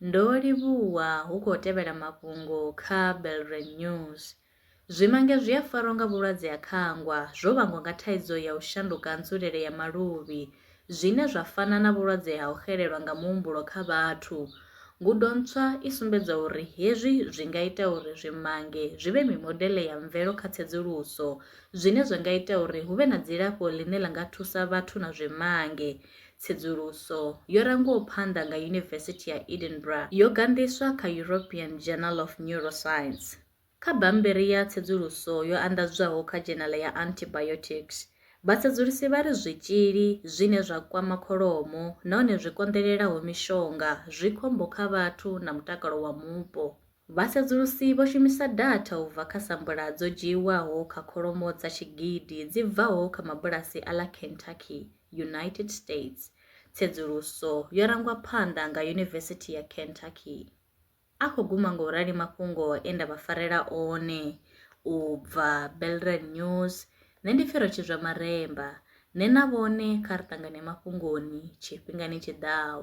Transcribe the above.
Ndo livhuwa hu khou tevhela mafhungo kha Belre News. Zwimange zwi a farwa nga vhulwadze ha khangwa zwo vhangwa nga thaidzo ya u shanduka nzulele ya maluvhi zwine zwa fana na vhulwadze ha u xelelwa nga muhumbulo kha vhathu. Ngudo ntswa i sumbedza uri hezwi zwi nga ita uri zwimange zwi vhe mimodeḽe ya mvelo kha tsedzuluso zwine zwa nga ita uri hu vhe na dzilafho ḽine ḽa nga thusa vhathu na zwimange. Tsedzuluso yo rangwaho phanḓa nga Yunivesithi ya Edinburgh yo ganḓiswa kha European Journal of Neuroscience. Kha bammbiri ya tsedzuluso yo anḓadzwaho kha dzhenala ya Antibiotics, vhatsedzulusi vha ri zwitzhili zwine zwa kwama kholomo nahone zwi konḓelelaho mishonga zwi khombo kha vhathu na mutakalo wa mupo. Vhasedzulusi vho shumisa datha u bva kha sampula dzo dzhiiwaho kha kholomo dza tshigidi dzi bvaho kha mabulasi a ḽa Kentucky, United States. Tsedzuluso yo rangwa phanḓa nga Yunivesithi ya Kentucky. A khou guma nga u rali mafhungo e nda vha farela one u bva Belrand News, nṋe ndi pfi Rotshizwa Maremba, nṋe na vhone kha ri ṱangane mafhungoni tshifhingani tshi ḓaho.